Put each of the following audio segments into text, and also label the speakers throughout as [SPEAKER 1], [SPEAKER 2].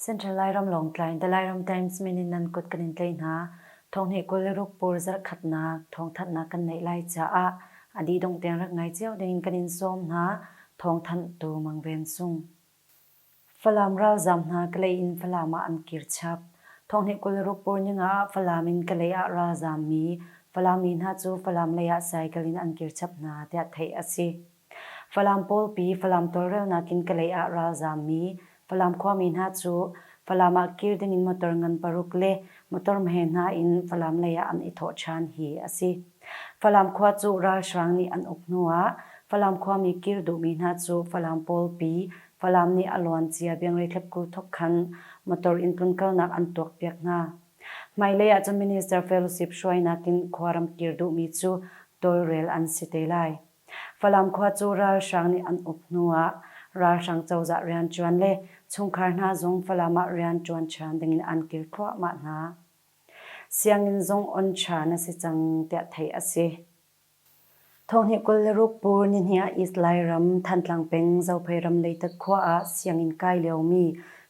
[SPEAKER 1] Central Lairam Lawngtlai The Lairam Times min in nan kut kan in tlei hna. Thong he kul le ruk pur zarh khatnak thong thatnak kan neih lai caah a dih dong tiang rak ngai cio ding in kan in sawm hna. Thong thanh tu mang ven sung. Falam ralzaam hna Kalay in Falam ah an kir chap. Thawnghneh kul ruk pur ningah Falam in Kalay ah ralzaam mi Falam mi hna cu Falam lei ah cycle in an kir chap hna tiah theih a si. Falam pawlpi Falam tawlrelnak in Kalay ah ralzaam mi Falam khuami hna cu Falam ah kir dingin motor ngan paruk le motor hme hna in Falam lei ah an i thawh ṭhan hi a si. Falam khua cu ralhrang nih an uk hnu ah Falam khuami kir duhmi hna cu Falam pawl pi Falam nih a luancia biangrei thlapku thawk khan motor in tlun kalnak an tuakpiak hna. Hmailei ahcun Minister Fellowship hruainak in khuaram kir duhmi cu tawlrel an si te lai. Falam khua cu ralhrang nih an uk hnu ah ralhrang cozah rianṭuan le chungkhar hna zong Falam ah rianṭuan ṭhan dingin an kil thluahmah hna. Sianginn zong oncha na si cang tiah theih a si. Thonghni kul le ruk pur nihnih ah East Lairam Thantlang peng Zophei ram Leitak khua ah sianginn kai liomi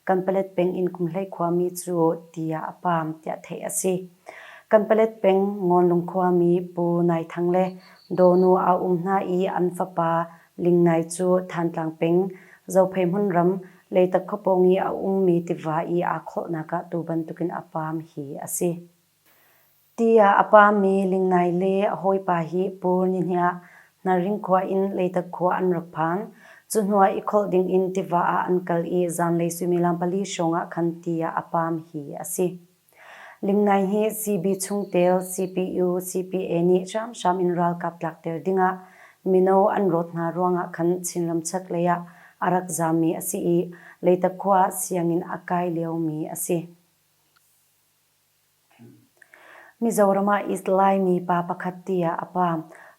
[SPEAKER 1] Kanpalet peng inn kumhlei khuami cu tiah a paam tiah theih a si. Kanpalet peng Ngonlung khuami Pu Nai Thang le Dawnu a um hna i an fapa Lingnai cu Thantlang peng Zophei hmunram Leitak khuapawng i a ummi tiva i aa khawhnak ah tu bantukin a paam hi a si. Tiah a paammi Lingnai le a hawipa hi Pu Ni Hniah Hnaring khua in Leitak khua an rak phan. Cuhnuah i kholh dingin tiva ah an kal i zanlei suimilam pali hrawng ah khan ti ah a paam hi a si. Limnai hi CB chungtel CPU, CPA nih hramhram in ralkap tlakter dingah mino an rawt hna ruangah khan Chinram chaklei ah a rak zaammi a si i Leitak khua ah sianginn a kai liomi a si. Mizoram ah East Laimi pa pakhat tiah a pa.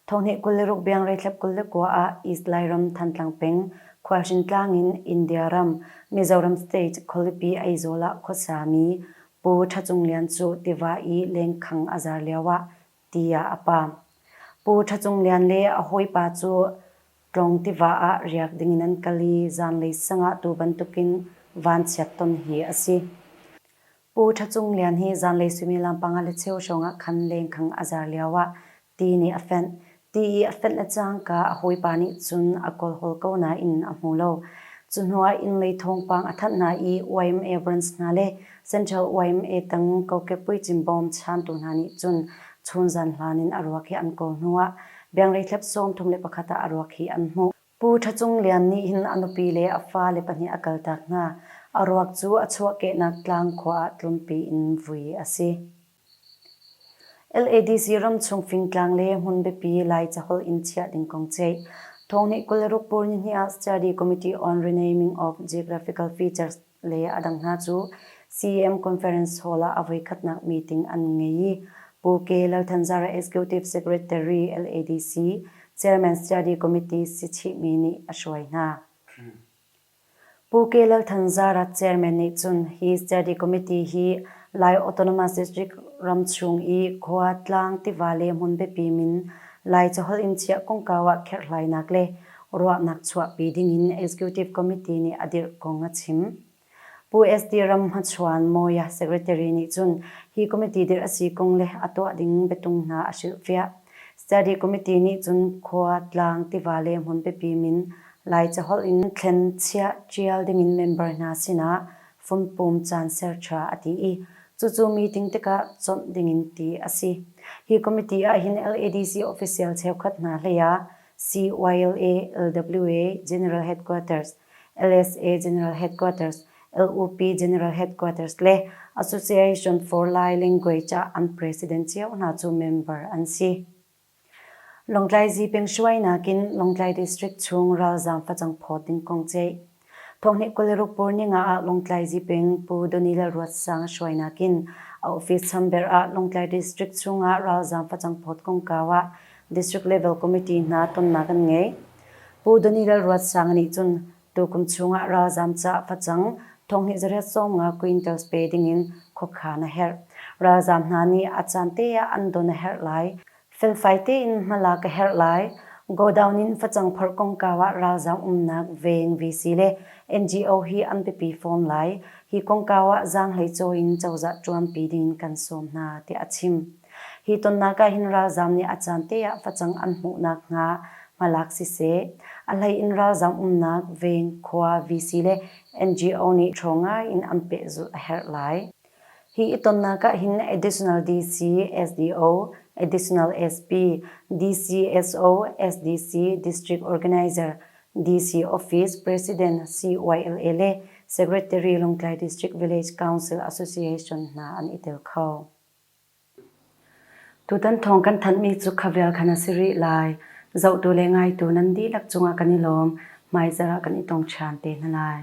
[SPEAKER 1] Thawhni kul le ruk biang reithlep kul le kua ah East Lairam Thantlang peng Khualhring tlang in India ram, Mizoram State, khualipi Aizawl ah khuasami Pu Tha Cung Lian cu tiva i lengkhang a zar lioah ti ah a pa. Pu Tha Cung Lian le a hawipa cu Tlawng tiva ah riak dingin an kal i zanlei sang ah tu bantukin vanchiat ton hi a si. Pu Tha Cung Lian hi zanlei suimilam panga le cheu hrawngah khan lengkhang a zar lioah ti nih a fenh. Ti i a fenh a cangka a hawipa nih cun a kawlhawl ko nain a hmu lo. Cu hnuah innlei thawngpang a thanh hna i YM A Branch hna le Central yma tang kokek puicim bawm chantu hna nih cun chun zan hlan in a ruak hi an kawl hnuah biangreithlep sawm thum le pakhat ah a ruak hi an hmuh. Pu Ṭha Cung Lian nih hin a nupi le a fale pahnih a kaltak hna. A ruak cu a chuahkehnak tlang khua ah tlumpi in vui a si. LADC ramchung fingtlang le hmun biapi Lai caholh in chiah ding kong ceih. Thawng nih kul ruk pur nihnih ah Study Committee on Renaming of Geographical Features le a dang hna cu CEM Conference Hall ah a voikhatnak meeting an ngei i Pu Ke Lal Thanzara Executive Secretary LADC, Chairman Study Committee si chihmi nih a hruai hna. Pu Ke Lal Thanzara Chairman nih cun hi Study Committee hi Lai Autonomous District ram chung i khua, tlang, tiva le hmun biapi min Lai caholh in chiah kongkau ah kherhlainak le ruahnak chuahpi dingin Executive Committee nih a dirh kong a chim. Pu SD Ram Hmachhuan, Mawya, Secretary nih cun hi committee dirh a si kong le a tuah ding biatung hna a hrilhfiah. Study Committee nih cun khua, tlang, tiva le hmun biapi min Lai caholh in thlen, chiah, ṭial dingin member hna sinah fumpum caan ser ṭha a ti i cucu meeting tikah chawnh dingin ti a si. Hi committee ahhin LADC official cheukhat hna hlei ah CYLA, LWA General Headquarters, LSA General Headquarters, LOP General Headquarters le Association for Lai Language ah an president cio hna cu member an si. Lawngtlai Zipeng hruai nakin Lawngtlai District chung ralzaam facang phawt ding kong ceih. Thawngnih kul le ruk pur ninga ah Lawngtlai Ziping Pu Donila Ruatsang hruai nakin a office chamber ah Lawngtlai District chungah ralzaam facang phawt kongkau ah District Level Committee hna tonnak an ngei. Pu Donila Ruatsang nih cun tukum chungah ralzaam caah facang thawngnih zariat sawmnga quintal pe dingin khuakhan a herh. Ralzaam hna nih a caan te ah an don a herh lai. Felfai tein hmala ka herh lai. Godown in facang phorh kongkau ah ralzam umnak Veng VC le NGO hi an biapi fawn lai. Hi kongkau ah zaanghlei cawi in cozah ṭuanpi ding in kan sawm hna, tiah a chim. Hi tonnak ah hin ralzam nih a caan te ah facang an hmuh nakhnga hmalak siseh, a hlei in ralzam umnak Veng, khua, VC le NGO nih ṭhaw ngai in an pehzulh a herh lai. Hi i tonnak ah hin additional DC, SDO, additional SP, DCSO, SDC, District Organizer, DC Office, President CYLA le Secretary Lawngtlai District Village Council Association hna an i tel kho. Tutan thawng kan thanhmi cu khavial khan a si rih lai. Zohtu le ngaitu nan dihlak cungah kan i lawm. Hmaizarah kan i tong ṭhan te hna lai.